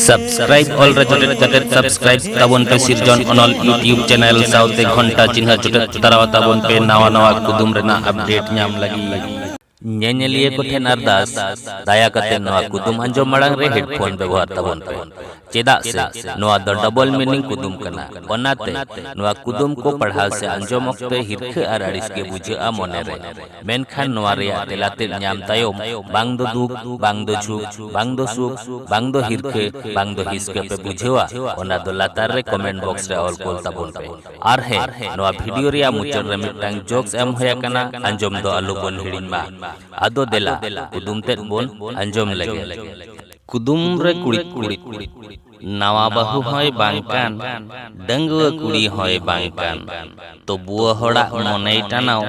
Subscribe ᱚᱞ ᱨᱮ ᱡᱚᱴᱮᱫ ᱠᱟᱛᱮ ᱥᱟᱵᱥᱠᱨᱟᱭᱤᱵ ᱛᱟᱵᱚᱱ ᱯᱮ ᱥᱤᱨᱡᱚᱱ ᱚᱱᱚᱞ ᱭᱩᱴᱤᱭᱩᱵ ᱪᱮᱱᱮᱞ ᱥᱟᱶᱛᱮ ᱜᱷᱚᱱᱴᱟ ᱪᱤᱱᱦᱟᱹ ᱡᱚᱴᱮᱫ ᱛᱟᱨᱟᱣ ᱛᱟᱵᱚᱱ ᱯᱮ ᱱᱟᱣᱟ ᱱᱟᱣᱟ ᱠᱩᱫᱩᱢ ᱨᱮᱱᱟᱜ ᱟᱯᱰᱮᱴ ᱧᱟᱢ ᱞᱟᱹᱜᱤᱫ ᱧᱮᱧᱮᱞᱤᱭᱟᱹ ᱠᱚ ᱴᱷᱮᱱ ᱟᱨᱫᱟᱥ ᱫᱟᱭᱟ ᱠᱟᱛᱮ ᱱᱚᱣᱟ ᱠᱩᱫᱩᱢ ᱟᱸᱡᱚᱢ ᱢᱟᱲᱟᱝ ᱨᱮ ᱦᱮᱰᱯᱷᱳᱱ ᱵᱮᱵᱚᱦᱟᱨ ᱛᱟᱵᱚᱱ ᱯᱮ ᱪᱮᱫᱟᱜ ᱥᱮ ᱱᱚᱣᱟ ᱫᱚ ᱰᱚᱵᱚᱞ ᱢᱤᱱᱤᱝ ᱠᱩᱫᱩᱢ ᱠᱟᱱᱟ ᱚᱱᱟᱛᱮ ᱱᱚᱣᱟ ᱠᱩᱫᱩᱢ ᱠᱚ ᱯᱟᱲᱦᱟᱣ ᱥᱮ ᱟᱸᱡᱚᱢ ᱚᱠᱛᱮ ᱦᱤᱨᱠᱷᱟᱹ ᱟᱨ ᱟᱹᱲᱤᱥ ᱜᱮ ᱵᱩᱡᱷᱟᱹᱜᱼᱟ ᱢᱚᱱᱮ ᱨᱮ ᱢᱮᱱᱠᱷᱟᱱ ᱱᱚᱣᱟ ᱨᱮᱭᱟᱜ ᱛᱮᱞᱟ ᱛᱮᱫ ᱧᱟᱢ ᱛᱟᱭᱚᱢ ᱵᱟᱝ ᱫᱚ ᱫᱩᱠ ᱵᱟᱝ ᱫᱚ ᱡᱷᱩᱠ ᱵᱟᱝ ᱫᱚ ᱥᱩᱠ ᱵᱟᱝ ᱫᱚ ᱦᱤᱨᱠᱟᱹ ᱵᱟᱝ ᱫᱚ ᱦᱤᱥᱠᱟᱹ ᱯᱮ ᱵᱩᱡᱷᱟᱹᱣᱟ ᱚᱱᱟ ᱫᱚ ᱞᱟᱛᱟᱨ ᱨᱮ ᱠᱚᱢᱮᱱᱴ ᱵᱚᱠᱥ ᱨᱮ ᱚᱞ ᱠᱳᱞ ᱛᱟᱵᱚᱱ ᱯᱮ ᱟᱨ ᱦᱮᱸ ᱱᱚᱣᱟ ᱵᱷᱤᱰᱤᱭᱳ ᱨᱮᱭᱟᱜ ᱢᱩᱪᱟᱹᱫ ᱨᱮ ᱢᱤᱫᱴᱟᱝ ᱡᱳᱠᱥ ᱮᱢ ᱦᱩᱭ ᱟᱠᱟᱱᱟ ᱟᱸᱡᱚᱢ ᱫᱚ ᱟᱞᱚ ᱵᱚᱱ ᱦᱤᱲᱤᱧ ᱢᱟ ᱟᱫᱚ ᱫᱮᱞᱟ ᱠᱩᱫᱩᱢ ᱛᱮᱫ ᱵᱚᱱ ᱟᱸᱡᱚᱢ ᱞᱮᱜᱮ ᱠᱩᱫᱩᱢ ᱨᱮ ᱠᱩᱲᱤᱫ ᱠᱩᱲᱤᱫ ᱱᱟᱣᱟ ᱵᱟᱹᱦᱩ ᱦᱚᱸᱭ ᱵᱟᱝ ᱠᱟᱱ ᱰᱟᱺᱜᱩᱣᱟᱹ ᱠᱩᱲᱤ ᱦᱚᱸᱭ ᱵᱟᱝ ᱠᱟᱱ ᱛᱚ ᱵᱩᱣᱟᱹ ᱦᱚᱲᱟᱜ ᱢᱚᱱᱮᱭ ᱴᱟᱱᱟᱣ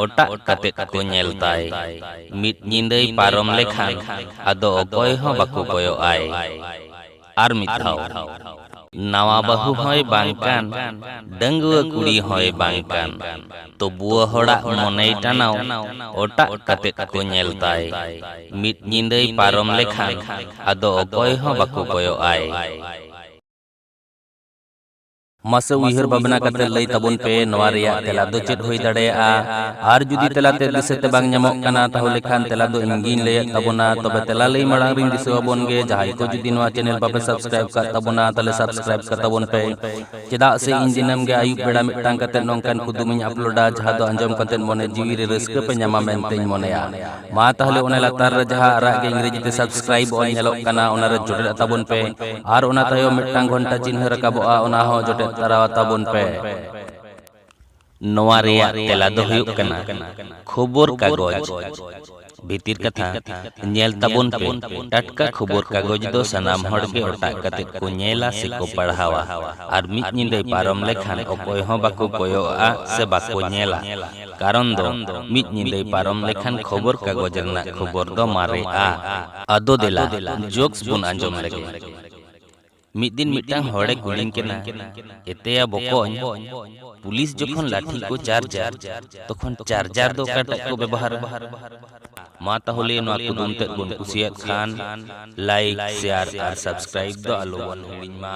ᱚᱴᱟᱜ ᱠᱟᱛᱮᱫ ᱠᱚ ᱧᱮᱞ ᱛᱟᱭ ᱢᱤᱫ ᱧᱤᱫᱟᱹᱭ ᱯᱟᱨᱚᱢ ᱞᱮᱠᱷᱟᱱ ᱟᱫᱚ ᱚᱠᱚᱭ ᱦᱚᱸ ᱵᱟᱠᱚ ᱠᱚᱭᱚᱜ ᱟᱭ ᱟᱨ ᱢᱤᱫ ᱫᱷᱟᱣ ᱱᱟᱣᱟ ᱵᱟᱹᱦᱩ ᱦᱚᱸᱭ ᱵᱟᱝ ᱠᱟᱱ ᱰᱟᱺᱜᱩᱣᱟᱹ ᱠᱩᱲᱤ ᱦᱚᱸᱭ ᱵᱟᱝ ᱠᱟᱱ ᱛᱚᱵᱩᱣ ᱦᱚᱲᱟᱜ ᱢᱚᱱᱮᱭ ᱴᱟᱱᱟᱣ ᱚᱴᱟᱜ ᱠᱟᱛᱮᱫ ᱠᱚ ᱧᱮᱞ ᱛᱟᱭ᱾ ᱢᱤᱫ ᱧᱤᱫᱟᱹᱭ ᱯᱟᱨᱚᱢ ᱞᱮᱠᱷᱟᱱ ᱟᱫᱚ ᱚᱠᱚᱭ ᱦᱚᱸ ᱵᱟᱠᱚ ᱠᱚᱭᱚᱜ ᱟᱭ᱾ ᱢᱟᱥᱮ ᱩᱭᱦᱟᱹᱨ ᱵᱷᱟᱵᱽᱱᱟ ᱠᱟᱛᱮ ᱞᱟᱹᱭ ᱛᱟᱵᱚᱱ ᱯᱮ ᱱᱚᱣᱟ ᱨᱮᱭᱟᱜ ᱛᱮᱞᱟ ᱫᱚ ᱪᱮᱫ ᱦᱩᱭ ᱫᱟᱲᱮᱭᱟᱜᱼᱟ? ᱟᱨ ᱡᱩᱫᱤ ᱛᱮᱞᱟ ᱛᱮᱫ ᱫᱤᱥᱟᱹ ᱛᱮ ᱵᱟᱝ ᱧᱟᱢᱚᱜ ᱠᱟᱱᱟ ᱛᱟᱦᱚᱞᱮ ᱠᱷᱟᱱ ᱛᱮᱞᱟ ᱫᱚ ᱤᱧ ᱜᱮᱧ ᱞᱟᱹᱭ ᱟᱫ ᱛᱟᱵᱚᱱᱟ᱾ ᱛᱚᱵᱮ ᱛᱮᱞᱟ ᱞᱟᱹᱭ ᱢᱟᱲᱟᱝ ᱨᱮᱧ ᱫᱤᱥᱟᱹ ᱟᱵᱚᱱ ᱜᱮ ᱡᱟᱦᱟᱸᱭ ᱠᱚ ᱡᱩᱫᱤ ᱱᱚᱣᱟ ᱪᱮᱱᱮᱞ ᱵᱟᱯᱮ ᱥᱟᱵᱽᱥᱠᱨᱟᱭᱤᱵᱽ ᱟᱠᱟᱫ ᱛᱟᱵᱚᱱᱟ ᱛᱟᱦᱚᱞᱮ ᱥᱟᱵᱽᱥᱠᱨᱟᱭᱤᱵᱽ ᱠᱟᱛᱟᱵᱚᱱ ᱯᱮ᱾ ᱪᱮᱫᱟᱜ ᱥᱮ ᱤᱧ ᱫᱤᱱᱟᱹᱢ ᱜᱮ ᱟᱹᱭᱩᱵ ᱵᱮᱲᱟ ᱢᱤᱫᱴᱟᱝ ᱠᱟᱛᱮ ᱱᱚᱝᱠᱟᱱ ᱠᱩᱫᱩᱢ ᱤᱧ ᱟᱯᱞᱳᱰᱟ ᱡᱟᱦᱟᱸ ᱫᱚ ᱟᱸᱡᱚᱢ ᱠᱟᱛᱮ ᱢᱚᱱᱮ ᱡᱤᱣᱤ ᱨᱮ ᱨᱟᱹᱥᱠᱟᱹ ᱯᱮ ᱧᱟᱢᱟ ᱢᱮᱱᱛᱮᱧ ᱢᱚᱱᱮᱭᱟ ᱢᱟ ᱛᱟᱦᱞᱮ ᱚᱱᱟ ᱞᱟᱛᱟᱨ ᱨᱮ ᱡᱟᱦᱟᱸ ᱟᱨᱟᱜ ᱜᱮ ᱤᱝᱨᱮᱡᱤ ᱛᱮ ᱥᱟᱵᱥᱠᱨᱟᱭᱤᱵ ᱚᱞ ᱧᱮᱞᱚᱜ ᱠᱟᱱᱟ ᱚᱱᱟ ᱨᱮ ᱡᱚᱴᱮᱫ ᱛᱟᱵᱚᱱ ᱯᱮ ᱟᱨ ᱚᱱᱟ ᱛᱟᱭᱚᱢ ᱢᱤᱫᱴᱟᱝ ᱜᱷᱚᱱᱴᱟ ᱪᱤᱱᱦᱟᱹ ᱨᱟᱠᱟᱵᱚᱜᱼᱟ ᱚᱱᱟ ᱦᱚᱸ ᱡᱚᱴᱮᱫ ᱛᱟᱨᱟ ᱛᱟᱵᱚᱱ ᱯᱮ ᱱᱚᱣᱟ ᱨᱮᱭᱟᱜ ᱛᱮᱞᱟ ᱫᱚ ᱦᱩᱭᱩᱜ ᱠᱟᱱᱟ ᱠᱷᱚᱵᱚᱨ ᱠᱟᱜᱚᱡᱽ ᱵᱷᱤᱛᱤᱨ ᱠᱟᱛᱷᱟ ᱧᱮᱞ ᱛᱟᱵᱚᱱ ᱯᱮ ᱴᱟᱴᱠᱟ ᱠᱷᱚᱵᱚᱨ ᱠᱟᱜᱚᱡᱽ ᱫᱚ ᱥᱟᱱᱟᱢ ᱦᱚᱲ ᱜᱮ ᱚᱴᱟᱜ ᱠᱟᱛᱮ ᱠᱚ ᱧᱮᱞᱟ ᱥᱮ ᱠᱚ ᱯᱟᱲᱦᱟᱣᱟ ᱟᱨ ᱢᱤᱫ ᱧᱤᱫᱟᱹᱭ ᱯᱟᱨᱚᱢ ᱞᱮᱠᱷᱟᱱ ᱚᱠᱚᱭ ᱦᱚᱸ ᱵᱟᱠᱚ ᱠᱚᱭᱚᱜᱼᱟ ᱥᱮ ᱵᱟᱠᱚ ᱧᱮᱞᱟ ᱠᱟᱨᱚᱱ ᱫᱚ ᱢᱤᱫ ᱧᱤᱫᱟᱹᱭ ᱯᱟᱨᱚᱢ ᱞᱮᱠᱷᱟᱱ ᱠᱷᱚᱵᱚᱨ ᱠᱟᱜᱚᱡᱽ ᱨᱮᱱᱟᱜ ᱠᱷᱚᱵᱚᱨ ᱫᱚ ᱢᱟᱨᱮᱜᱼᱟ ᱟᱫᱚ ᱫᱮᱞᱟ ᱡᱳᱠᱥ ᱵᱚᱱ ᱟᱸᱡᱚᱢ ᱞᱮᱜᱮ᱾ ᱢᱤᱫ ᱫᱤᱱ ᱢᱤᱫᱴᱟᱝ ᱦᱚᱲᱮ ᱠᱩᱞᱤᱧ ᱠᱟᱱᱟ ᱮᱛᱮᱭᱟ ᱵᱚᱠᱚᱧ ᱯᱩᱞᱤᱥ ᱡᱚᱠᱷᱚᱱ ᱞᱟᱴᱷᱤ ᱠᱚ ᱪᱟᱨᱡᱟ ᱛᱚᱠᱷᱚᱱ ᱪᱟᱨᱡᱟᱨ ᱫᱚ ᱚᱠᱟᱴᱟᱜ ᱠᱚ ᱵᱮᱵᱚᱦᱟᱨᱟ ᱢᱟ ᱛᱟᱦᱚᱞᱮ ᱱᱚᱣᱟ ᱠᱩᱫᱩᱢ ᱛᱮᱫ ᱵᱚᱱ ᱠᱩᱥᱤᱭᱟᱫ ᱠᱷᱟᱱ ᱞᱟᱭᱤᱠ ᱥᱮᱭᱟᱨ ᱟᱨ ᱥᱟᱵᱥᱠᱨᱟᱭᱤᱵ ᱫᱚ ᱟᱞᱚ ᱵᱚᱱ ᱦᱤᱲᱤᱧ ᱢᱟ